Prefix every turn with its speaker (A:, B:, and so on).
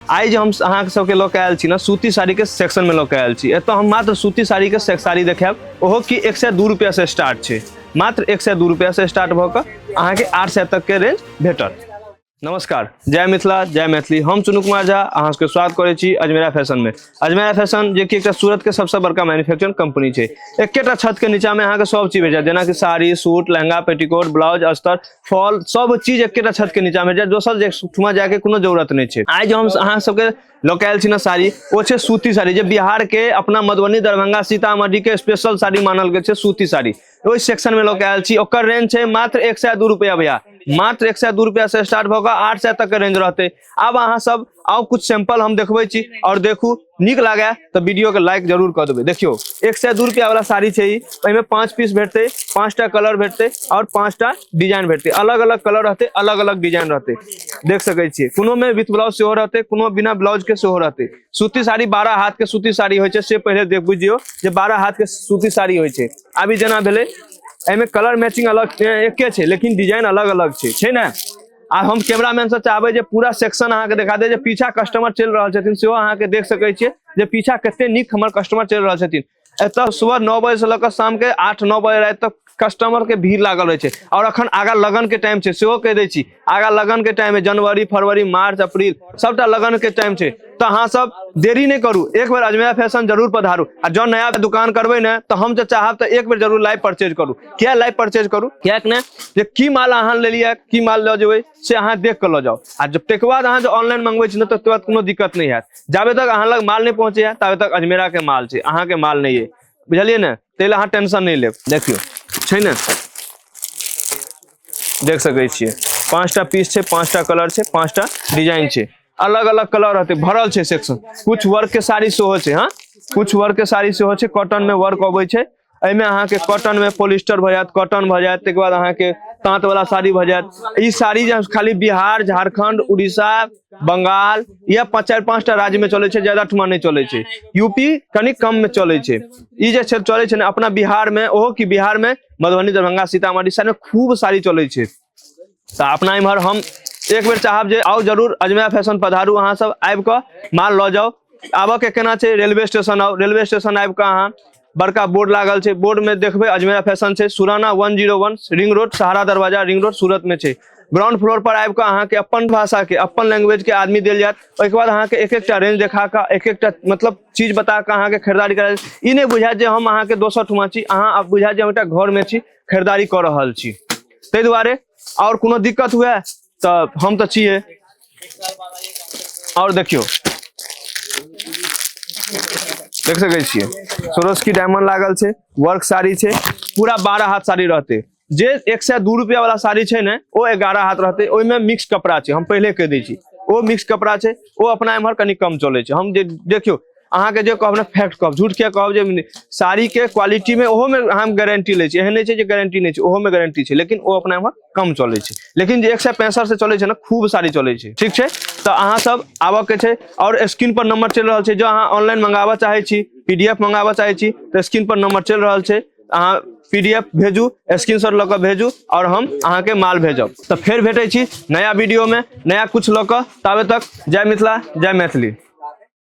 A: आइ जे हम अहाँ सबके लऽ के आयल छी ने सूती साड़ी के सेक्शन में लऽ के आयल छी एतऽ हम मात्र सूती साड़ी के से- साड़ी देखायब ओहो कि एक सए दू रुपया से स्टार्ट छै मात्र एक सए दू रुपया से स्टार्ट भऽ कऽ अहाँके आठ सए तक के रेंज भेटत नमस्कार जय मिथिला जय मैथिली हम चुनू कुमार झा अहाँ सबके स्वागत करै छी अजमेरा फैशन में अजमेर फैशन जे कि एकटा सूरत के सबसे बड़का मैन्युफैक्चरिंग कंपनी छै एकेटा छत के नीचा में अहाँ के सब चीज भेजा जेना कि sari suit lehenga petticoat blouse अस्तर फॉल सब चीज एकेटा छत के नीचा में भेजा दोसर जे ठुमा जाए के कोनो जरूरत नहीं छै आइ जो हम अहाँ सबके लोकल छी ना साड़ी ओ छै सूती साड़ी जे बिहार के अपना मधुबनी दरभंगा सीतामढ़ी के स्पेशल साड़ी मानल गेल छै सूती साड़ी ओहि सेक्शन में लोकल छी ओकर रेंज छै मात्र एक सौ दू रुपया भैया मात्र एक सौ दू रुपया से स्टार्ट भऽ कऽ आठ सौ तक के रेंज रहते आब अहाँ सब आउ कुछ सैंपल हम देखबे छी और देखू निक लगे तो वीडियो के लाइक जरूर कर देवे देखियो एक सौ दू रुपया वाला साड़ी है इनमें पांच पीस भेटते पांचटा कलर भेटते और पांचटा डिजाइन भेटते अलग अलग कलर रहते अलग अलग डिजाइन रहते देख सके छे कोनो में विथ ब्लाउज सेहो रहते कोनो बिना ब्लाउज के सेहो रहते सूती साड़ी बारह हाथ के सूती साड़ी हो से पहले देख बुझियो जे बारह हाथ के सूती साड़ी हो अभी जना भेले एमे कलर मैचिंग अलग एक लेकिन डिजाइन अलग अलग है ना आ हम कैमरामैन से चाहबे जे पूरा सेक्शन अहाँ के दिखा दे जे पीछा कस्टमर चल रहा छथिन सेहो अहाँ के देख सके छे जे पीछा कते निक हमर कस्टमर चल रहा छथिन एत सुबह नौ बजे से लग शाम के आठ नौ बजे रात तक कस्टमर के भीड़ लागल रहे और अखन आगा लगन के टाइम से कह दी आगा लगन के टाइम है जनवरी फरवरी मार्च अप्रैल सबटा लगन के टाइम से तो अहाँ सब देरी नहीं करू एक बेर अजमेरा फैशन जरूर पधारू आ जो नया दुकान करबे ने तो हम तो चाहब तो एक बेर जरूर लाइव परचेज करू क्या लाइव परचेज करू क्या ने जे की माल अहाँ ले लिया की माल लऽ जेबै से अहाँ देख के लऽ जाओ आ जब तक बाद अहाँ जो ऑनलाइन मंगबै छी ने तो बाद कोनो दिक्कत नहीं है जाबे तक अहाँ लग माल नहीं पहुंचे है ताबे तक अजमेरा के माल छै अहाँ के माल नहीं है बुझलिए ने ताहि लए अहाँ टेंशन नहीं लेब देखियो छै ने देख सकै छियै पाँचटा पीस छै पाँचटा कलर छै पाँचटा डिजाइन छै अलग अलग कलर रहते भरल छै सेक्शन कुछ वर्क के साड़ी सेहो छै हाँ कुछ वर्क के साड़ी सेहो छै कॉटन में वर्क अबै छै एहिमे अहाँके कॉटन में पोलिस्टर भऽ जायत कॉटन भऽ जायत ताहिके बाद अहाँके ताँत वाला साड़ी भऽ जायत ई साड़ी जे खाली बिहार झारखंड उड़ीसा बंगाल या पाँच चारि पाँचटा राज्य में चलै छै ज्यादा ठुमा नहि चलै छै यूपी कनि कम में चलै छै ई जे क्षेत्र चलै छै ने अपना बिहार में ओहो कि बिहार में मधुबनी दरभंगा सीतामढ़ी साइड में खूब साड़ी चलै छै तऽ अपना इम्हर हम एक बेर चाहब जे आउ जरूर अजमैया फैशन पधारू अहाँ सब आबि कऽ माल लऽ जाउ आबऽ के केना छै रेलवे स्टेशन आउ रेलवे स्टेशन आबि कऽ अहाँ बड़का बोर्ड लागल छै बोर्ड में देखबै अजमैया फैशन छै Surana one zero one ring road Sahara दरवाजा रिंग रोड सूरत में छै ग्राउंड फ्लोर पर आबि कऽ अहाँके अपन भाषा के अपन लैंग्वेज के आदमी देल जायत ओहिके बाद अहाँके एक एकटा रेंज देखा कऽ एक एकटा मतलब चीज बता कऽ अहाँके खरीदारी करायल ई नहि बुझायत जे हम अहाँके दोसर ठुमा छी अहाँ आब बुझायत जे हम एकटा घर में छी खरीदारी कऽ रहल छी ताहि दुआरे आओर कोनो दिक्कत हुए तऽ हम तऽ छियै आओर देखियौ देख सकै छियै सोरोस्की डायमंड लागल छै वर्क साड़ी छै पूरा बारह हाथ साड़ी रहतै जे एक सए दू रुपया वाला साड़ी छै ने ओ एगारह हाथ रहतै ओहिमे मिक्स कपड़ा छै हम पहिले कहि दै छी ओ मिक्स कपड़ा छै ओ अपना एम्हर कनि कम चलै छै हम जे देखियौ अहाँ के जो कहब ना फैक्ट कहब झूठ के कहब जे साड़ी के क्वालिटी में ओहो में हम गारंटी ले छी एहन नहीं छै जे गारंटी नहीं छै ओहो में गारंटी छै लेकिन ओ अपना एम्हर कम चले छै लेकिन जे एक सौ पैंसठ से चले छै ना खूब साड़ी चले छै ठीक छै तो अहाँ सब आबऽ के छै और स्क्रीन पर नंबर चल रहा छै जो अहाँ ऑनलाइन मंगाबऽ चाहे छी पीडीएफ मंगाबऽ चाहे छी तो स्क्रीन पर नंबर चल रहा छै अहाँ पीडीएफ भेजू स्क्रीन शॉट लऽ कऽ भेजू और हम अहाँ के माल भेजब तो फिर भेटे छी नया वीडियो में नया कुछ लऽ कऽ ताबे तक जय मिथिला जय मैथिली